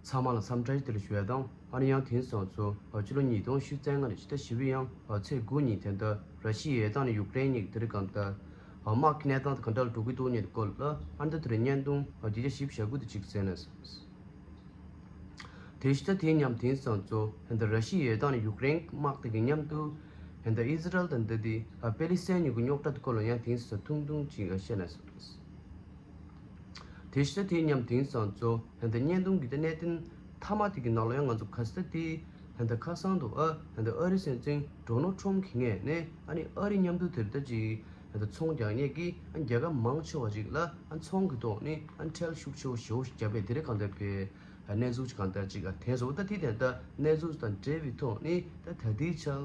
ཚང་མ་ལ་བསམ་འཆར་ཞིག་དེ་ལ་ཞུ་བ་དང་ཨ་རི་ཡང་དེང་སང་ཚོ་ཕྱི་ལོ་ཉིས་སྟོང་བཞི་བརྩེགས་ལྔ་ནས་ཕྱི་ཟླ་བཞི་བའི་ཡང་ཚེས་དགུ་ཉིན་དེ་ལྟར་ར་ཤི་ཡའི་དང་ནས་ཡུག་རེན་གཉིས་ཀྱི་དེ་རིང་གང་ལྟར་དམག་གི་གནས་སྟངས་དེ་གང་འདྲ་ལ་འགྲོ་གི་འདུག་སྙན་ཐོ་བཀོད་ལ་ཨ་མདོ་དེ་རིང་བརྙན་ཐུང་བརྒྱ་ཆ་བཞི་བཞག་དགོས་དུ་ཅིག་ཟེར་ནས་དེ་ཕྱི་ཟླ་དེའི་མཉམ་དེང་སང་ཚོ་ཧན་ད་ར་ཤི་ཡའི་དང་ནས་ཡུག་རེན་གྱི་དམག་དེ་གི་མཉམ་དུ་ཧན་ད་ཨི་ཟི་རལ་དང་འདི་དེ་པེ་ལི་སེན་གཉིས་ཀྱི་རྙོག་དྲ་དེ་སྐོར་ལ་ཡང་དེང་སང་ཐུང་ཐུང་ཅིག་བཤད་ནས་དེ་ཤེས་དེ་སྙམ་དེང་སང་ཚོ་ཧན་ད་བརྙན་ཐུང་གི་ལྟེ་གནས་དེ་མཐའ་མ་དེ་གི་ནང་ལ་ཡང་ང་ཚོ་ག་སེ་དེ་ཧན་ད་ཁ་སང་དུ་ཨ་ཧན་ད་ཨ་རི་སེམས་ཅན་འགྲོ་ནོ་ཁྲོམ་གི་ངས་ནས་ཨ་ནི་ཨ་རི་མཉམ་དུ་དེ་ལྟ་ཅིག་ཧན་ད་ཚོང་རྒྱག་ངེས་ཀི་ཨ་རྒྱལ་ཁབ་མང་ཆེ་བ་ཅིག་ལ་ཨ་ཚོང་གི་ཐོག་ནི་ཨ་འཕྲལ་ཤུགས་ཆེ་བོ་ཞེ་བོ་ཞིག་རྒྱག་པས་དེ་རིགས་གང་ལྟར་བའི་གནས་ཚུལ་ཅིག་གང་ལྟར་ཅིག་ཨ་དེ་ཟོ་ད་དེ་དེ་ལྟ་གནས་ཚུལ་དང་འབྲེལ་བའི་ཐོག་ནི་ད་ད་ལྟའི་ཆར་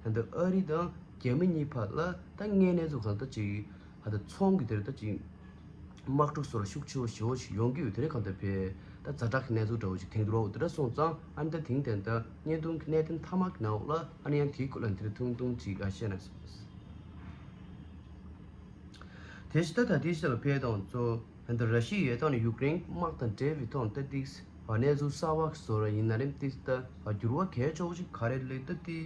ཧན་ད་ཨ་རི་དང་རྒྱ་མི་གཉིས་བར་ལ་ད་ངའི་གནས་ཚུལ་གང་ལྟ་ཅིག་ད་ལྟ་ཚོང་གི་དེར་ད་ཅིག་དམག་འཁྲུག་སོགས་ལ་ཤུགས་ཆེ་བོ་ཞི་བོ་ཞིག་ཡོང་གི་ཡོད་དེ་རིང་གང་ལྟར་བེ་ད་རྫ་དྲག་གི་གནས་ཚུལ་འདྲ་བོ་ཞིག་དེང་དུས་རོགས་དེ་འདྲ་སོང་ཙང་ཨ་ནི་ད་དེང་དེ་ལྟར་བརྙན་ཐུང་གི་གནད་དོན་མཐའ་དམག་གི་ནང་འོག་ལ་ཨ་ནི་ཡང་དེའི་སྐོར་ལ་འདིར་ཐུང་ཐུང་ཅིག་འགའ་བཤད་ན་ཟེར་བ་ཟེར། དེ་བཞིན་ད་ད་ལྟའི་ཆར་བེ་དང་གཙོ་བོ་ད་ར་ཤི་ཡའི་དང་ཡུཀ་རེན་གྱི་དམག་དང་འབྲེལ་བའི་ཐོག་ད་ཏིག་གནས་ཚུལ་གསར་བ་ཞིག་བཟོ་ར་ཡིན་ན་རེམ་ཏིག་ད་འགྱུར་བ་གས་ཆོག་ཅིག་ག་རེ་ལེགས་ད་ཏིག་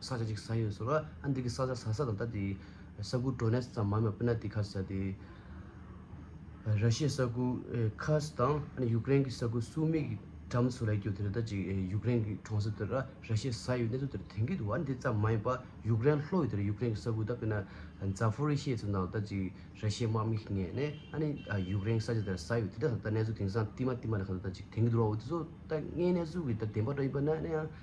ས་ཆ་ཅིག་ཟ་ཡོད་ཟེར་བ་ཨ་འདི་གི་ས་ཆ་ཟ་ས་དང་ད་དེ་ས་ཁུལ་འགྲོ་གནས་ཙམ་མ་མ་པི་ན་དེ་ཁ་ཟ་དེ། ར་ཤི་ཡའི་ས་ཁུལ Kursk དང་ཨ་ནི་ཡུཀ་རེན་གི་ས་ཁུལ Sumy གི་འགྲམ་སུ་ལ་གྱུར་དེ་རེད་ད་ཅིག་ཡུཀ་རེན་གི་གྲོང་གསེབ་དེ་ར་ར་ཤི་ཡའི་ས་ཡོད་གནས་ཚུལ་དེར་དེང་གི་དུ་ཨ་འདི་ཙམ་མ་ཡིན་པ་ཡུཀ་རེན་ལྷོ་ཡི་དེ་ར་ཡུཀ་རེན་གི་ས་ཁུལ་ད་པི་ན Zaporizhzhia ཚོ་ནང་ད་ཅིག་ར་ཤི་ཡའི་དམག་མི་ཞིག་ངེས་ནས་ཨ་ནི་ཡུཀ་རེན་གི་ས་ཆ་དེ་ར་ཟ་ཡོད་དེ་དག་ད་གནས་ཚུལ་དེང་སང་བསྟི་མ་བསྟི་མ་ལ་ཁ་ཟ་ད་ཅིག་དེང་གི་དུ་ར་འོ་དེ་ཚོ་ད་དངོས་གནས་ཚུལ་གྱི་ད་བདེན་པ་འདྲ་ཡིན་པ་ན་ཡང་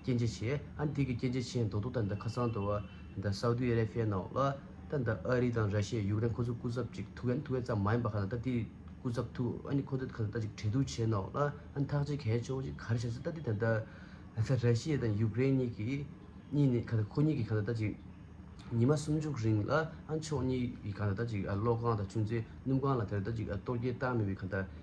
སྐྱེ་མཆེད་ཆེ། ཨན་ཏི་ཀི་སྐྱེ་མཆེད་ཆེ་མདོག་སྡུག་དང་ཁ་སང་དུ་བ་སའུ་ཏི་ཨ་རེ་ཕིའི་ནང་ལ་ད་ཨ་རི་དང་ར་ཤི་ཡ་ཡུཀ་རེན་ཁོ་ཚོ་སྐུ་ཚབ་ཅིག་ཐུག་ཨན་ཐུག་ཨེ་ཙམ་མ་ཡིན་པ་ཁ་སང་ད་ཏི་སྐུ་ཚབ་ཐུག་ཨན་ཁོ་ཚོ་ཁ་སང་ད་ཅིག་འབྲེལ་གཏུག་བྱས་ནང་ལ་ཨན་ཐག་ཅིག་གས་ཆོག་ཅིག་ག་རེ་བྱ་སྲིད་ད་ཏི་ད་ད་ར་ཤི་ཡ་དང་ཡུཀ་རེན་གཉིས་ཀྱི་གཉིས་ནས་ཁ་སང་ཁོ་གཉིས་ཀྱི་ཁ་སང་ད་ཅིག་ཉི་མ་སུམ་ཅུག་རིང་ལ་ཨན་ཕྱོགས་གཉིས་ཀྱི་ཁ་སང་ད་ཅིག་གློག་ཁང་དང་ཆུ་མཛོད་སྣུམ་ཁང་ལ་དེར་ད་ཅིག་གཏོར་རྒྱལ་བཏང་མེད་པའི་ཁ་སང་ད།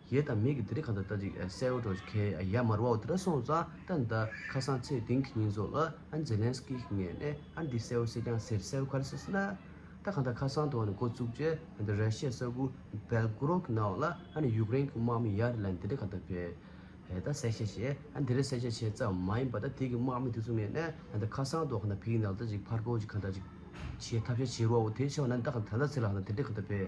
ཡས་དང་མས་ཀྱི་དེ་རི་གང་དུ་ལྟ་ཅིག་སའི་འོད་གྲོགས་ཀྱི་ཁའི་ཡས་མར་བའོ་དེ་ར་སོང་ཙང་ད་ནི་ད་ཁ་སང་ཚེས་དིང་གི་ཉིན་རྫོགས་ལ་ཨན་ཛེ་ལན་སི་ཀི་ཞིག་ངས་ནས་ཨ་འདི་སའི་འོད་ཟེར་ཀྱང་ཟེར་སའི་འོད་ག་རེ་ཟེར་སེ་ན། ད་གང་ད་ཁ་སང་དུ་ཨ་ནི་འགོ་བཙུགས་རྗེས་ཨ་འདི་ར་ཤའི་ས་ཁུ་བལ་གུ་རོག་གི་ནའོ་ལ་ཨ་ནི་ཡུཀ་རེན་གྱི་དམག་མི་ཡར་ལ་ནི་དེ་རི་གང་དུ་བས་ད་སའི་ཤ་བྱས་ཨ་འདི་ར་སའི་ཤ་བྱས་ཙམ་མ་ཡིན་པ་ད་དེ་གི་དམག་མི་དེ་ཚོ་ངས་ནས་ཨ་ད་ཁ་སང་དུ་གང་ད་བལ་གྱི་ནང་ལ་ལྟ་ཅིག་ཕར་གོ་ཅིག་གང་ད་ཅིག་བྱས་ཐབས་ཤ་བྱས་རོའོ་དེ་བྱས་བ་ན་ད་གང་ད་ལ་ཚེ་ལ་གང་ད་དེ་རི་གང་དུ་བས།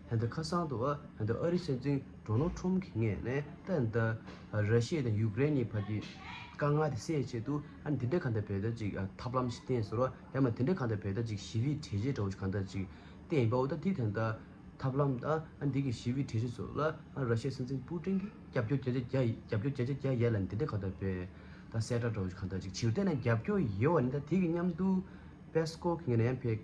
ཧན་ཏུ་ཁ་སང་དུ་ཧན་ཏུ་ཨ་རིའི་སྲིད་འཛིན་ཏྲོ་ནོ་ཁྲོམ་གྱི་ངས་ནས་ད་ནི་ད་ར་ཤི་ཡའི་དང་ཡུག་རེན་གཉིས་བར་གྱི་དཀའ་ངལ་དེ་སེལ་ཆེད་དུ་ཨ་ནི་དེ་འདྲའི་གང་འདྲ་བོད་ལྟར་ཅིག་ཐབས་ལམ་ཞིག་བསྟན་ཟེར་བ་ཡང་མ་དེ་འདྲའི་གང་འདྲ་བོད་ལྟར་ཅིག་ཞི་བའི་གྲལ་བཤེར་འདྲ་བོ་ཞིག་གང་འདྲ་ཅིག་བསྟན་ཡིན་པའོ་ད་དེའི་དོན་དང་ཐབས་ལམ་དང་ཨ་ནི་དེ་གའི་ཞི་བའི་གྲལ་བཤེར་སོགས་ལ་ཨ་ར་ཤི་ཡའི་སྲིད་འཛིན་པུ་ཀྲིན་གྱིས་རྒྱབ་སྐྱོར་བྱས་རྗེས་རྒྱ་རྒྱབ་སྐྱོར་བྱས་རྗེས་རྒྱ་ཡལ་ལ་ནི་དེ་འདྲའི་གང་འདྲ་བོད་ད་གསལ་བསྒྲགས་འདྲ་བོ་ཞིག་གང་འདྲ་ཅིག་བྱེད་རྒྱུར་བལྟས་ན་རྒྱབ་སྐྱོར་ཡལ་བ་ནི་ད་དེ་གཉམ་དུ་པེ་སི་ཀོབ་ཀྱི་ངས་ནས་ཡང་ཕེབས།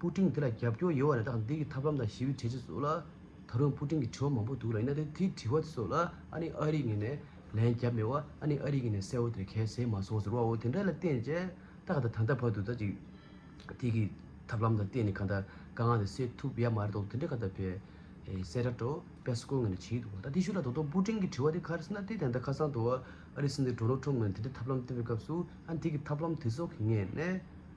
སྤུ་ཀྲིང་དེ་ལ་རྒྱབ་སྐྱོར་ཡོད་བ་རེད་དཱ་འདི་གི་ཐབས་ལམ་དང་ཞི་བའི་གྲས་ཆེ་ཚོ་ལ། ད་རུང་སྤུ་ཀྲིང་གི་དྲི་བ་མང་པོ་འདུག་ལ་ཡིན་ན་དེ་དེའི་དྲི་བ་དེ་ཚོ་ལ་ཨ་ནི་ཨ་རིའི་ངོས་ནས་ལན་རྒྱབ་མེད་བ་ཨ་ནི་ཨ་རིའི་ངོས་ནས་གསལ་བོ་དེར་གལ་ཟེར་མ་སོང་ཟེར་བའོ་དེ་འདྲ་ལ་བརྟེན་ཅེ་ད་ག་ད་ད་ལྟ་བར་དུ་ད་ཅིག་དེ་གི་ཐབས་ལམ་དང་བརྟེན་ནས་ག་ད་དཀའ་ངལ་དེ་སེལ་ཐུབ་ཡ་མ་རེད་དོ་དེ་འདྲ་ག་ད་བེ་སེ་ར་ཏྲོ་པེ་སི་ཀོའི་ངོས་ནས་བྱེད་ཀྱི་འདུག་ད་དེ་ཤུ་ལ་ད་དུང་སྤུ་ཀྲིང་གི་དྲི་བ་དེ་ག་རེ་ཟེར་ན་དེ་དེ་ད་ཁ་སང་དུ་ཨ་རིའི་སྲིད་འཛིན་དྲོ་ནོ་ཁྲོམ་ངོས་ནས་དེ་འདྲའི་ཐབས་ལམ་བཏོན་པའི་སྐབས་སུ་ཨ་ནི་དེ་གི་ཐབས་ལམ་དེ་ཚོ་གི་ངེས་ནས།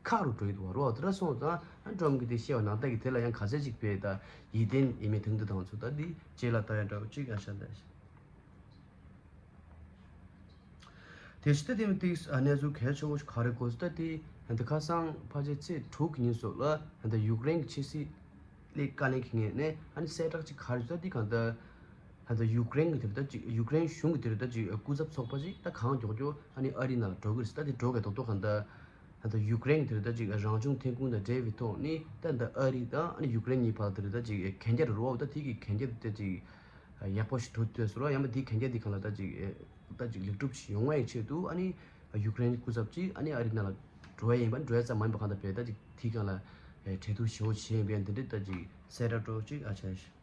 མཁའ་རུ་བགྲོད་དུ་བ་རོ་ཏྲ་སོང་ཙང་ཨ་འབྲོམ་གྱིས་དེ་ཤེས་པ་ནང་བལྟ་གིས་དེ་ལ་ཡང་ག་ཚད་ཅིག་པའི་ད་ཡིད་བརྟན་ཡིན་མིན་དེང་དུ་དང་ཚུ་ད་འདི་རྗེས་ལ་ད་ཡང་འདྲ་བ་གཅིག་ཡང་ཤ་འདྲ། དེ་ཤི་ད་དེ་མི་ཏིག་གནས་ཚུལ་གལ་ཆེན་པོ་ཞིག་ག་རེ་གོ་ཟི་ད་དེ་ད་ཁ་སང་ཕ་ཆེ་ཚེས་དྲུག་གི་ཉིན་སོགས་ལ་ད་ཡུག་རེན་གྱི་ཕྱི་སྲིད་སླད་བཀའ་ལན་གྱི་ངེས་ནས་ཨ་ནི་གསལ་བསྒྲགས་ཅིག་ག་རེ་ཟུ་ད་འདི་གང་ད་ད་ཡུག་རེན་གྱི་དེ་ད་ཅིག་ཡུག་རེན་གཞུང་གྱི་དེ་རུ་ད་ཅིག་སྐུ་ཚབ་ཚོགས་པ་ཅིག་ད་གང་མགྱོགས་མགྱོགས་ཨ་ནི་ཨ་རིའི་ནང་ལ་འགྲོ་དགོས་ཟི་ད་དེ་འགྲོ་གས་དོག་དོག་གང་ད་ད་ལྟ་ཡུཀ་རེན་དེ་རེད་ད་ཅིག་རང་བྱུང་ཐོན་ཁུངས་དང་འབྲེལ་བའི་ཐོག་ནས་ད་ལྟ་ཨ་རི་དང་ཡུཀ་རེན་གཉིས་བར་དེ་རེད་ད་ཅིག་གན་རྒྱ་རེད་རོ་ད་དེ་གི་གན་རྒྱ་དེ་ད་ཅིག་ཡག་པོ་ཞིག་ཐོབ་ཐུབ་ས་རེད་རོ་ཡང་མ་དེའི་གན་རྒྱ་དེ་གང་ལ་ད་ཅིག་ད་ཅིག་ལེགས་གྲུབ་ཞིག་ཡོང་བའི་ཆེད་དུ་ཨ་ནི་ཡུཀ་རེན་སྐུ་ཚབ་ཀྱིས་ཨ་ནི་ཨ་རི་ནང་ལ་འགྲོ་བ་ཡིན་པ་འགྲོ་ཡ་ཙམ་མ་ཡིན་པ་གང་ལྟར་བས་ད་ཅིག་དེ་གང་ལ་འབྲེལ་གཏུག་ཞིབ་མོ་བྱེད་ཡིན་པས་འདི་འདྲའི་ད་ཅིག་གསལ་བསྒྲགས་སྒྲོག་ཅིག་ཨ་ཅག།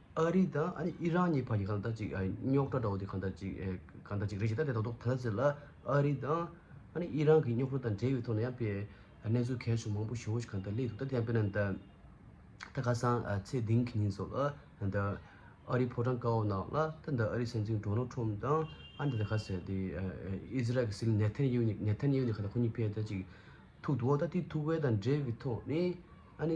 ཨ་རི་དང་ཨ་རི་ཨི་རན་གཉིས་བར་གྱི་གང་ཟག་ཅིག་རྙོག་དྲ་འདྲ་བོ་དེ་གང་ཟག་ཅིག་གང་ཟག་ཅིག་རེད་ཅེས་ད་ལྟའི་ཐོག་ཏུ་ཐ་སླ་ཟེར་ལ། ཨ་རི་དང་ཨ་རི་ཨི་རན་གྱི་རྙོག་དྲ་དང་འབྲེལ་བའི་ཐོག་ནས་ཡང་དཔེ་གནས་ཚུལ་གལ་ཆུང་མང་པོ་ཞིག་ཧོར་གཞི་གང་ལྟར་བསླེས་འདུག་ད་ལྟ་ཡང་དཔེར་ན་འདི་ད་ཁ་སང་ཚེས་བདུན་གྱི་ཉིན་སོགས་ལ་འདི་ཨ་རིའི་ཕོ་བྲང་བཀའ་འོག་ནང་ལ་ད་འདི་ཨ་རིའི་སྲིད་འཛིན་སྒྲོ་ནལ་ཁྲོམ་དང་ཨ་རི་དང་ཁ་སང་འདི་ཨི་ཟི་རལ་གྱི་སྲིད་ནེ་ཐན་ཡེའུ་ནེ་ནེ་ཐན་ཡེའུ་ནེ་ཁ་ད་ཁོ་གཉིས་ཕལ་ཆེར་ཅིག་ཐུག་འདུག་འོ་ད་དེ་ཐུག་པའི་དང་འབྲེལ་བའི་ཐོག་ནས་ཨ་ནི་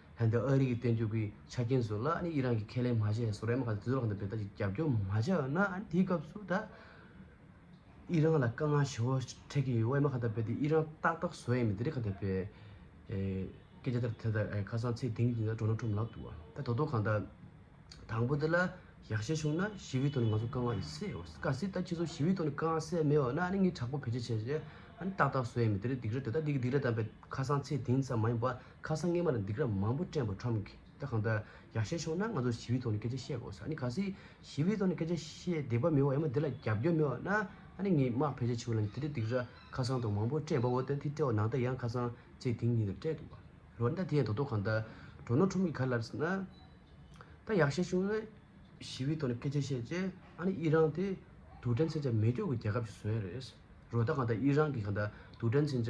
ཧན་དང་ཨ་རི་གི་བསྟན་བཅོས་ཀྱི་ཆ་རྐྱེན་བཟོས་ལ་ཨི་རན་གྱི་ཁས་ལེན་མ་བྱས་ཡང་སོ་རའི་དམག་གིས་དུས་རབས་ལྔ་དང་བརྒྱད་ལྟར་གྱི་རྒྱབ་སྐྱོར་མ་བྱས་ན་དེའི་སྐབས་སུ་ད་ཨི་རན་ལ་དཀའ་ངལ་ཆེན་པོ་འཕྲད་ཀྱི་ཡོད་ཨེ་མ་ཁ་བརྡ་སྤེལ་ཏེ་ཨི་རན་ཏག་ཏག་བཟོ་ཡས་མི་འདི་རིགས་ཁ་བརྡ་སྤེལ། སྐད་ཆ་དེར་ཐད་ད་ཁ་སང་ཚེ་དིང་གིས་སྒྲོ་ན་ཁྲོམ་ལབ་འདུག་ད་དོ་དོ་གང་ལྟར་དང་པོ་དེ་ལ་ཡག་བཤད་བྱུང་ན་ཞི་བའི་ཐོག་ནས་ང་ཚོ་དཀའ་ངལ་རེ་སེལ་ཨོ་ག་སྲིད་ད་ཁྱེད་ཚོ་ཞི་བའི་ཐོག་ནས་དཀའ་ངལ་སེལ་མེད་བ་ན་ཨ་ནི་ངས་དྲག་པོ་བེད་སྤྱད་བྱས་རྗེས་ཨ་ནི་ཏག་ཏག་བཟོ་ཡས་མི་དེ་རིགས་སྡིག་ར་དེ་ད་སྡིག་ར་བཏང་པས་ཁ་སང་ཚེ་དིང་ཙམ་མ་ཡིན་པ། ཁ་སང་སྔས་མ་ལ་འདི་གར་མང་པོ་སྤྲད་འབོ་ཁྲོམ་གི་ད་གང་ལྟར་ཡག་ཤས་བྱུང་ན་ང་ཚོ་ཞི་བའི་ཐོག་ནས་སྐད་ཆ་བཤད་དགོས་ས་ནི་ག་སྲིད་ཞི་བའི་ཐོག་ནས་སྐད་ཆ་བཤད་བདེ་བ་མེད་བ་ཡང་མ་དེ་ལ་རྒྱབ་སྐྱོར་མེད་བ་ན་ཨ་ནི་ངས་དམག་ཕལ་ཆེར་ཕྱི་བ་ལ་དེ་འདྲ་འདི་གར་ཁ་སང་དང་མང་པོ་སྤྲད་འབོ་བ་དེ་འདི་སྤྲད་བ་ནང་ལྟ་ཡང་ཁ་སང་བཅས་དེང་ཉིན་ལ་སྤྲད་འདུག་བ་རོ་ན་ད་དེ་ཡང་དོ་དོ་གང་ལྟར་འགྲོ་ནོ་ཁྲོམ་གི་ག་ལ་ལར་ན་ད་ཡག་ཤས་བྱུང་ན་ཞི་བའི་ཐོག་ནས་སྐད་ཆ་བཤད་རྗེས་ཨ་ནི་ཨི་རང་དེ་དུག་སྦྲན་ཚན་ཆ་མེད་སྐྱོ་གི་རྒྱལ་ཁབ་ཞིག་བཟོ་ཡ་རེད་རོ་ད་གང་ལྟར་ཨི་རང་གི་གང་ལྟར་དུག་སྦྲན་ཚན་ཆ།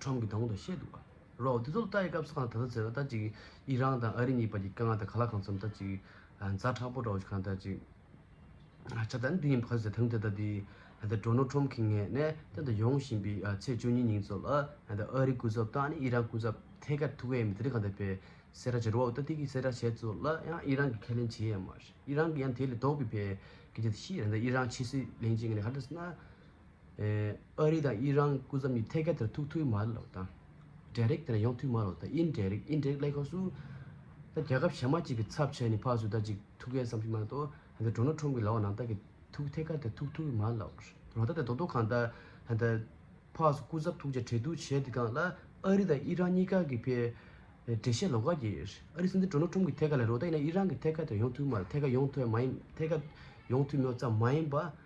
ཁྲོམ་གྱི་གདོང་དུ་བཤད་འདུག་པ་རོགས་དེ་ཚོ་ལ་ལྟ་ཡི་སྐབས་སུ་གང་ད་ལྟ་ཟེར་བ་ལྟར་ཅིག་ཨི་རང་དང་ཨ་རི་གཉིས་བར་གྱི་དཀའ་ངལ་དང་ག་ལ་གང་འཚམ་ལྟར་ཅིག་རྫ་དྲག་པོ་འདྲ་བོ་ཞིག་གང་ལྟར་ཅིག་ཆགས་ད་ནི་འདི་ཡིན་ཕ་ཟེར་དང་དེ་ལྟ་དེ་ད་ལྟ་འགྲོ་ནོ་ཁྲོམ་གྱི་ངས་ནས་གཏན་དུ་ཡོང་བཞིན་པའི་ཚེས་བཅུ་གཉིས་ཉིན་ཚོ་ལ་ད་ལྟ་ཨ་རི་སྐུ་ཚབ་དང་ནི་ཨི་རང་སྐུ་ཚབ་ཐད་ཀར་ཐུག་ཡས་མི་དེ་རིང་གང་ད་པའི་སེར་ར་བྱེད་རོགས་ད་ཐིག་གི་སེར་ར་བྱས་ཚོ་ལ་ཡང་ཨི་རང་གིས་ཁས་ལེན་བྱེད་ཡས་མ་རེད་ཨི་རང་གིས་ཡང་དེ་ལས་ལྡོག་པའི་ཕའི་སྐད་ཆ་དེ་ཤི་ཡས་ད་ཨི་རང་ཕྱི་སྲིད་གླེང་བྱེད་ངས་ནས་ཧ་ད་ཟེར་ན། ཨ་རི་དང་དབྱི་རང་སྐུ་ཚབ་གཉིས་ཐད་ཀར་དེར་ཐུག་ཐུབ་མ་ལགས་དང། འབྲེལ་རེག་དེར་ཡོང་ཐུབ་མ་ལགས་དང་དབྱིན་འབྲེལ་རེག་དབྱིན་འབྲེལ་ལས་ཁང་སུ། ད་རྒྱལ་ཁབ་གཞན་མ་གཅིག་གི་ཚབ་བྱས་ནས་ཕག་སུ་ད་གཅིག་ཐུག་གལ་བསམ་ཤེས་མ་གཏོགས་ད་ལྟ Donald Trump གི་ལག་འོག་ནང་ད་གི་ཐུག་ཐད་ཀར་དེར་ཐུག་ཐུབ་མ་ལགས། རོ་ད་ད་རྡོག་རྡོག་གང་ད་ད་ད་ཕག་སུ་སྐུ་ཚབ་ཐུག་ཆ་འཕྲལ་བསྡུ་བྱས་དེ་གང་ལ་ཨ་རི་དང་དབྱི་རང་གཉིས་ཀ་གི་ཕེ་འབྲེལ་བཤད་ལོག་ག་གི་ཨ་རི་སྲིད་འཛིན Donald Trump གི་ཐད་ཀར་ལས་རོ་ད་ཡིན་ན་དབྱི་རང་གི་ཐད་ཀར་དེར་ཡོང་ཐུབ་མ་ཐད་ཀར་ཡོང་ཐོས་མ་ཡིན་ཐད་ཀར་ཡོང་ཐུབ་མོད་ཙམ་མ་ཡིན་པ།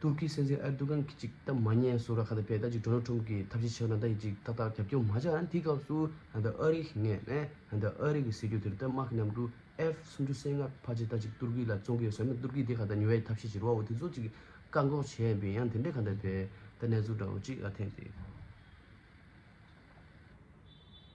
ཏུར་ཀིའི་སྲིད་འཛིན་ཨེར་ཏུ་ཀན་གྱིས་ཅིག་སྟབས་མ་ཉན་སུ་ར་ཁ་ཏ་ཕེ་ཏཱ་ཅིག་ཏྲོ་ནལ་ཁྲོམ་གྱིས་ཐབས་ཤེས་བྱས་ན་ད་ཡིས་ཅིག་ཏག་ཏག་རྒྱབ་སྐྱོར་མ་བྱ་ཨ་འི་སྐབས་སུ་ཨ་ད་ཨ་རི་ཡི་ངས་ཨ་ད་ཨ་རི་གི་སྲིད་ཇུས་དེར་ཏར་དམག་གི་མཉམ་དུ F སུམ་ཅུ་སེ་ལྔ་ཕ་ཅིག་ཏཱ་ཅིག་ཏུར་ཀི་ལ་བཙོང་གི་ཟོས་ན་ཏུར་ཀི་དེ་ག་ད་ཉུལ་བའི་ཐབས་ཤེས་བྱེད་རོགས་དེ་ཚོ་ཅིག་བཀག་འགོག་བྱས་ཡིན་པས་ཡང་དེ་འདྲས་ག་ད་ཕེ་ཏཱ་གནས་ཚུལ་འདྲ་བོ་ཅིག་ཨ་ཐེངས་རེ།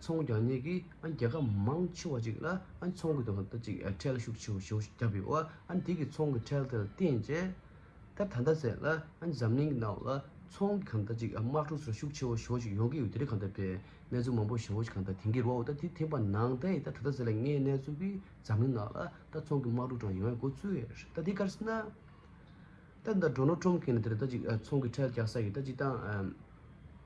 ཚོང་རྒྱག་ནས་ཀྱི་རྒྱལ་ཁབ་མང་ཆེ་བ་ཅིག་ལ་ཚོང་གི་དོན་དུ་ཅིག་ཁྲལ་ཤུགས་ཆེ་བོ་བརྒྱབ་ཡོད་དེ་གི་ཚོང་གི་ཁྲལ་དེ་ལ་བརྟེན་རྗེས་ད་ད་ལྟ་ཟེར་ན་འཛམ་གླིང་གི་ནང་ལ་ཚོང་གི་གང་ལྟར་ཅིག་དམག་འཁྲུག་སོགས་ཤུགས་ཆེ་བོ་ཞོ་ཞིག་ཡོང་གི་ཡོད་དེ་རིགས་གང་ལྟར་པའི་གནས་ཚུལ་མང་པོ་ཞོ་ཞིག་གང་ལྟར་དེང་གི་རོ་ད་དེ་དེ་པ་ནང་ད་ཡི་ད་ད་ད་ཟེར་ལ་ངའི་གནས་ཚུལ་གི་འཛམ་གླིང་ནང་ལ་ད་ཚོང་གི་དམག་འཁྲུག་དྲང་ཡོང་ཡ་གོ་ཚུལ་ད་དེ་ཀར་སེ་ན་ད་ད་འགྲོ་ནོ་ཁྲོམ་གིན་ད་ཚོང་གི་ཁྲལ་རྒྱག་ས་ཡི་ད་ཅིག་ཏང་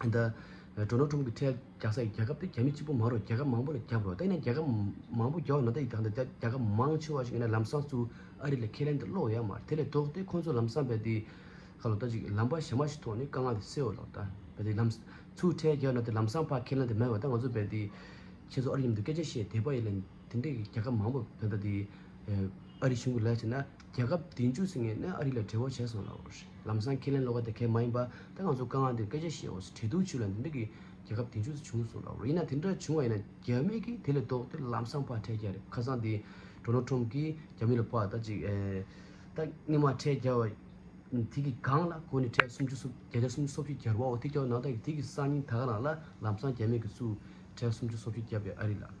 འདི། འགྲོ་ན་ཁྲོམ་གྱི་ཁྲལ་རྒྱག་སའི་རྒྱལ་ཁབ་དེ་རྒྱ་མི་གཅིག་པུ་མ་རུ་རྒྱལ་ཁབ་མང་པོ་ལ་རྒྱབ་རོགས་ད་ཡིན་ན་རྒྱལ་ཁབ་མང་པོ་རྒྱབ་ན་ད་ཡི་དག་འདི་རྒྱལ་ཁབ་མང་ཆེ་བ་ཞིག་ཡིན་ན་ལམ་སང་ཚུ་ཨ་རི་ལ་ཁས་ལེན་དུ་སློག་ཡ་མ་རེད་དེ་ལས་ལྡོག་ཏེ་ཁོང་ཚོ་ལམ་སང་བལ་དེའི་ཁ་ལོ་ད་ཅིག་ལམ་པ་ཞེ་མ་ཞིག་ཐོག་ནས་དཀའ་ངལ་དེ་སེལ་ལོ་ད་བལ་དེའི་ལམ་ཚུ་ཁྲལ་རྒྱག་ན་དེ་ལམ་སང་ཕ་ཁས་ལེན་དུ་མེད་བ་ད་ང་ཚོ་བལ་དེའི་ཁྱེད་ཚོ་ཨ་རི་ཡུམ་དུ་སྐད་ཆ་བཤད་དེ་པ་ཡིན་ན་དེ་འདྲའི་རྒྱལ་ཁབ་མང་པོ་བལ་ད་དེའི་ཨ་རི་གཞུང་གི་ལས་བྱེད་ན། རྒྱལ་ཁབ་དེ་མཇུག་ཚིག་ངས་ནས་ཨ་རི་ལ་བྲེལ་བོ་བྱས་སོང་ལ་འོ་ཧྲི་ལམ་སང་ཁས་ལེན་བློ་ཁ་དེ་གས་མ་ཡིན་པ་ད་ང་ཚོ་སྐ་ང་འདིར་སྐད་ཆ་བཤད་འོ་སི་བྲེལ་འདུག་ཆུ་ལ་འདི་འདྲ་གི་རྒྱལ་ཁབ་དེ་མཇུག་ཚིག་བྱུང་སོང་ལ་འོ་ཧྲི་ཡིན་ན་དེ་འདྲ་བྱུང་བ་ཡིན་ན་རྒྱ་མི་གིས་དེ་ལས་ལྡོག་སྟེ་ལམ་སང་ཕག་ཁྲལ་རྒྱག་རེད་ཁ་སང་དེ་འདྲོ་ནོ་ཁྲོམ་གིས་རྒྱ་མི་ལ་ཕག་ད་ཅིག་ད་སྔི་མ་ཁྲལ་རྒྱག་བ་དེ་གི་སྒང་ལ་གོ་ནི་ཁྲལ་སུམ་ཅུ་སོ་བརྒྱ་རྒྱ་སུམ་ཅུ་སོ་བཞི་རྒྱར་བ་འོ་དེ་རྒྱག་བ་ནང་ད་གི་དེ་གི་སང་ཉིན་ད་ག་རང་ལ་ལམ་སང་རྒྱ་མི་གིས་སུ་ཁྲལ་སུམ་ཅུ་སོ་བཞི་རྒྱབ་པའི་ཨ་རི་ལ།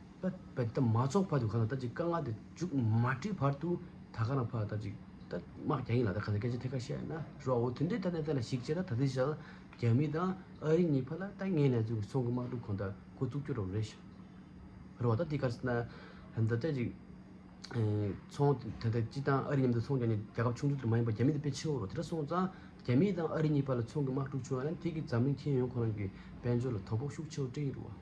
ད་བས་ད་མ་ཚོགས་བར་དུ་གང་ལ་ད་ཅིག་དཀའ་ང་དེ་འཇུག་མ་བྲིས་བར་དུ་ད་གང་ལ་བར་ད་ཅིག་ད་དམག་རྒྱ་ཡིན་ལ་ད་ག་ཚད་སྐད་ཆ་ཐད་ཀར་བཤད་ན་རོགས་འོ་དེ་འདྲའི་ཐ་ན་དེ་ལ་ཞིག་བྱས་ན་ད་དེ་བཞག་རྒྱ་མི་དང་ཨ་རི་གཉིས་བར་ལ་ད་ངས་ནས་ཚུགས་སོང་གི་དམག་འཁྲུག་གོང་ད་འགོ་བཙུགས་རྒྱུ་རོགས་རེད་ཤག་རོགས་ད་དེ་ག་ཚད་ན་ད་ད་ཅིག་ཚོང་དེ་ད་སྤྱི་དང་ཨ་རི་མཉམ་དུ་ཚོང་རྒྱག་ནས་རྒྱ་ཁབ་ཆུང་ཆུང་དེར་མ་ཡིན་པར་རྒྱ་མི་དེ་དཔེ་ཆེའོ་རོགས་དེ་འདྲ་སོང་ཙང་རྒྱ་མི་དང་ཨ་རི་གཉིས་བར་ལ་ཚོང་གི་དམག་འཁྲུག་བྱུང་ཡང་ན་དེ་གི་འཛམ་གླིང་ཁྱེད་ཡོང་ཁོ་རང་གི་དཔལ་འབྱོར་ལ་དོ་ཕོག་ཤུགས་ཆེའོ་སྤྲེའུ་རུ་བ།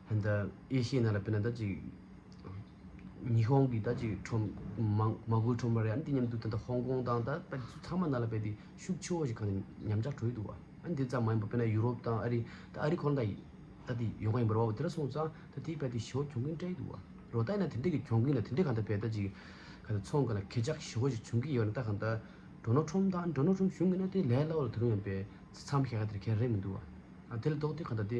འདི་ཨེ་ཤེ་ཡ་ན་ལ་དཔེར་ན་ད་ཅིག་ཉི་ཧོང་གི་ད་ཅིག་ཁྲོམ་མ་མགོའི་ཁྲོམ་ར་རེད་ཨ་འདི་སྙམ་དུ་ད་ལྟ་ཧོང་ཀོང་དང་ད་ད་ཚང་མ་ནང་ལ་དཔེ་དེ་ཤུགས་ཆེ་བོ་ཞིག་གང་ནས་ཉམས་ཆག་གྲོལ་འདུག་བ་ཨ་འདི་ཙམ་མ་ཡིན་པ་དཔེར་ན་ཡུ་རོབ་དང་ཨ་རི་ད་ཨ་རི་གོ་ལ་འདྲ་ད་དེ་ཡོང་ག་ཡིན་པ་རོ་བ་བོ་དེ་ར་སོང་ཙང་ད་དེའི་བལ་དེ་ཞོ་གྱོང་གིན་སྤྲད་ཡི་འདུག་བ་རོ་ད་ཡིན་ན་དེ་འདྲ་གི་གྱོང་གིན་ན་དེ་འདྲས་གང་ད་བལ་ད་ཅིག་ག་ད་ཚོང་ག་ལ་གས་ཆག་ཞོ་བོ་ཞིག་བྱུང་གིན་ཡོད་ན་ད་གང་ད་འགྲོ་ནོ་ཁྲོམ་དང་འགྲོ་ནོ་ཁྲོམ་བྱུང་གིན་ན་དེ་ལས་སླ་བོ་ལ་དེ་རུང་ཡང་བལ་ཚ་ཚ་མ་ཤ་ཤ་དེ་ར་གས་རེད་མི་འདུག་བ་ཨ་དེ་ལ་ལྡོག་སྟེ་གང་ད་དེ།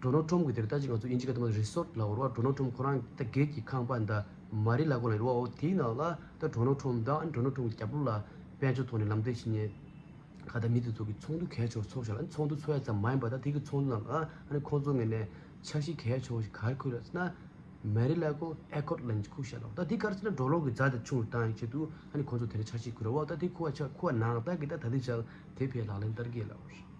འགྲོ་ནོར་ཁྲོམ་གྱི་དེར་ལྟ་ཅི་ང་ཚོ་ཨིན་ཇི་ག་དམར་རི་སོར་ལ་འོར་བ་འགྲོ་ནོར་ཁྲོམ་ཁོ་རང་ད་སྒེར་གྱི་ཁང་པ་ད་མ་རི་ལ་གོ་ལ་རི་བ་འོ་དེའི་ནང་ལ་ད་འགྲོ་ནོར་ཁྲོམ་ད་འགྲོ་ནོར་ཁྲོམ་གྱི་རྒྱབ་ལོ་ལ་དཔལ་འབྱོར་ཐོག་ནས་ལམ་སྟོན་བྱེད་ཉེ་ག་ད་མི་དེ་ཚོ་གི་ཚོགས་འདུ་གས་ཆོག་ཚོགས་ཞོར་ལ་ཚོགས་འདུ་ཚོགས་ཡ་ཙམ་མ་ཡིན་པ་ད་དེ་གི་ཚོགས་འདུ་ནང་ལ་ཨ་ཁོང་ཚོ་ངེ་ནས་འཆར་གཞི་གས་ཆོག་ཞིག་གར་ཁུར་ཡ་ཙི་ན་མ་རི་ལ་གོ་ཨེ་ཁོར་ལ་འཇིག་ཁུག་ཤ་ལོ་ད་དེ་གར་ཙི་ན་འགྲོ་ལོག་གི་རྫ་ད་ཆུང་རུ་བཏང་ཡི་ཆེད་དུ་ཨ་ཁོང་ཚོ་དེར་འཆར་གཞི་ཁུར་ཡ་འོ་ད་དེ་ཁུར་བ་ཆ་ཁུར་བ་ནང་ད་གི་ད་ད་དེ་ཅག་དེ་ཕའི་ལག་ལེན་ལྟར་གས་ལ་འོ་རེད།